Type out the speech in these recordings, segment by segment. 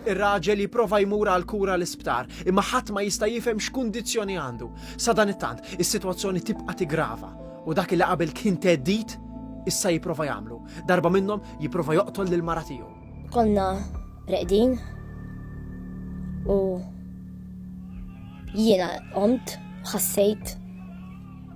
Ir-raġel jipprova jmur għall-kura l-isptar, imma ħadd ma jista' jifhem x'kundizzjoni għandu. Sadanittant, is-sitwazzjoni tibqa' tigrava u dak li qabel kien theddid issa jipprova jagħmlu. Darba minnhom jipprova joqtol lil mara tiegħu. Konna reqdin u jiena qomt ħassejt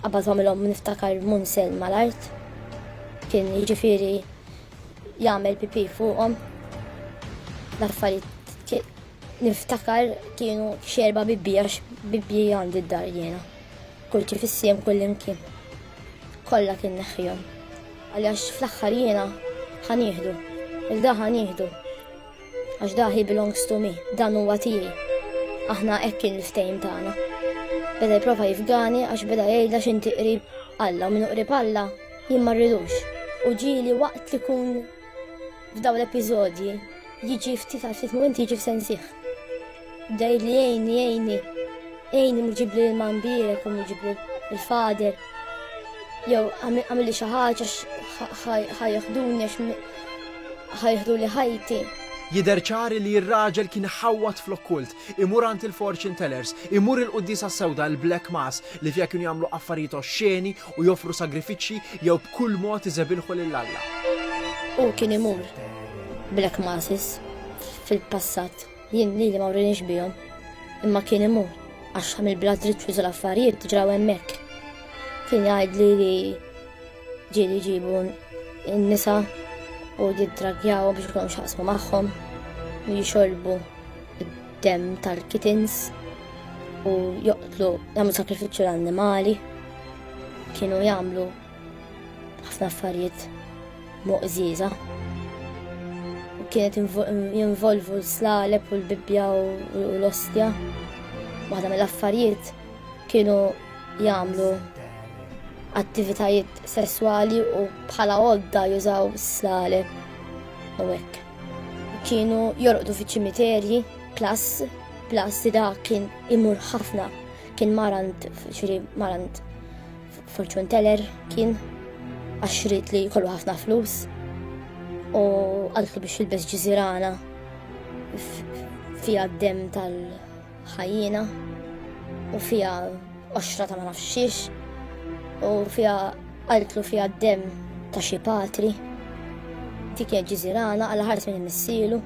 Qabad għamilhom niftakar Munsel mal-art. Kien jiġifieri jagħmel pipi fuqhom. L-affarijiet niftakar kienu xerba bibbi għax bibbi għandi d-dar jiena. Kull ċifissiem kull imkien. Kollha kien neħħihom. Għaliex fl-aħħar jiena ħanieħdu. Il-da ħanieħdu. Għax da he belongs to me, dan huwa tiegħi. Aħna hekk kien il-ftehim tagħna. Beda jipprova jifgani għax beda jgħidha x'inti qrib Alla u minn qrib Alla jien ma rridux. U ġieli waqt li kun f'dawn l-episodji jiġi ftit għal ftit mument jiġi f'sensih. Dejli jgħini jgħini, jgħini muġibli l-mambirek u muġibli l-fader. Jew għamilli xi ħaġa ħajħduni għax ħajħdu li ħajti. Jidher ċari li r-raġel kien ħawwat fl-okkult, imur għand il-fortune tellers, imur il-quddisa sewda l-black mass li fiha kienu jagħmlu affarijiet oxxeni u joffru sagrifiċċji jew b'kull mod iżebilħu lil Alla. U kien imur black masses fil-passat. Jien lili ma wrienix bihom, imma kien imur għax għamil bla driċċu tal-affarijiet ġraw hemmhekk. Kien jgħidli li ġieli jġibu n-nisa u jiddragjawhom biex ikolhom xaqsmu magħhom u jixorbu id-dem tal-kitins u joqtlu jagħmlu sakrifiċċju l-annimali kienu jagħmlu ħafna affarijiet moqżieża. U kienet jinvolvu l-slaleb u l-bibja u l-ostja. Waħda mill-affarijiet kienu jagħmlu attivitajiet sesswali u bħala għodda jużaw s-slaleb u hekk. Kienu jorqdu fi ċimiterji, plas, plas da kien imur ħafna, kien marant, xiri marant Fortune teller kien għax rrit li kollu ħafna flus u għaltlu biex jilbes ġizirana fija d-dem tal-ħajjina u fija oxra ta' ma nafxiex u fija għaltlu fija d-dem ta' xi patri dik hija ġiżirana għal ħares minn missilu.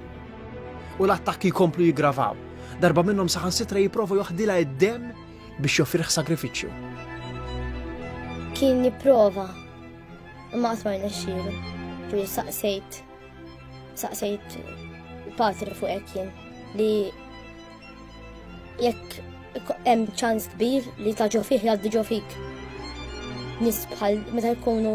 U l-attakki jkomplu jiggravaw. Darba minnhom saħansitra jipprova joħdilha id-dem biex joffrih sagrifiċċju. Kien jipprova imma qatt ma rnexxielu. Ġifieri saqsejt saqsejt patri fuq hekk jien li jekk hemm ċans kbir li ta' ġo fih jgħaddi ġo fik. Nis bħal meta jkunu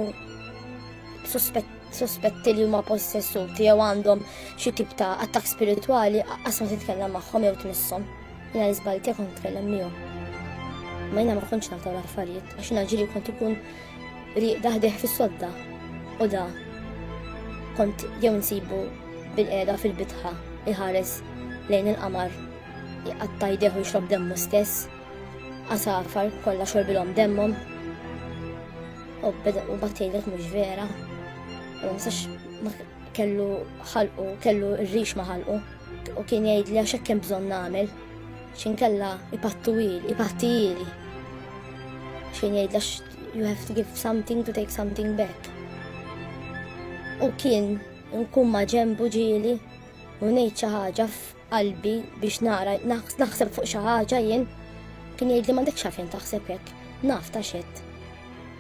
sospetti li huma possessuti jew għandhom xi tip ta' attak spiritwali qas ma titkellem magħhom jew tmisshom. Jina li zbajt jekk nitkellem miegħu. Ma jina ma kontx naftaw l-affarijiet għax jina ġili kont ikun riq daħdeħ fis-sodda u da kont jew nsibu bil-qeda fil-bitħa iħares lejn il-qamar jqatta jdeħu jxrob demmu stess għasafar kollha xorbilhom demmhom u beda u battejlek mhux vera. U ma kellu ħalqu, kellu r-rix ma ħalqu. U kien jgħidli għax hekk hemm bżonn nagħmel. X'inkella ipattu ili, ipatti ili. X'kien jgħidli għax you have to give something to take something back. U kien nkun ma ġembu ġieli u ngħid xi ħaġa f'qalbi biex nara naħseb fuq xi ħaġa jien kien jgħidli m'għandekx għalfejn taħseb hekk, naf ta' xed.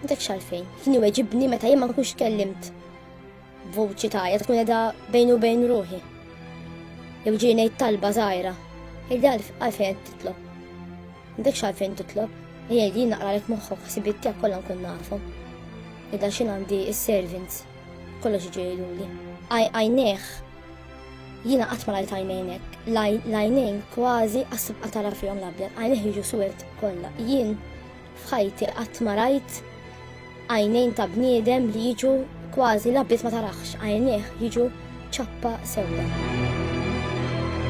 M'għandekx għalfejn. Kien iweġibni meta jien ma nkunx kellimt Vuċi tajja tkun edha bejn u bejn ruħi. Jew ġi ngħid talba żgħira. Ejda għalfejn titlob. M'dekx għalfejn titlob. Ejja li naqralek moħħok ħsibiet tiegħek kollha nkun nafhom. Ejda x'in għandi is-servants kollox ġejluli. Għajnejh Jina qatt ma rajt għajnejnek, l-għajnejn kważi għasib għatara fihom l-abjad, għajnejn jiġu suwed kollha. Jien F'ħajti qatt ma rajt għajnejn ta' bniedem li jiġu kważi l-abbiż ma tarax għajnieh jiġu ċappa sewda.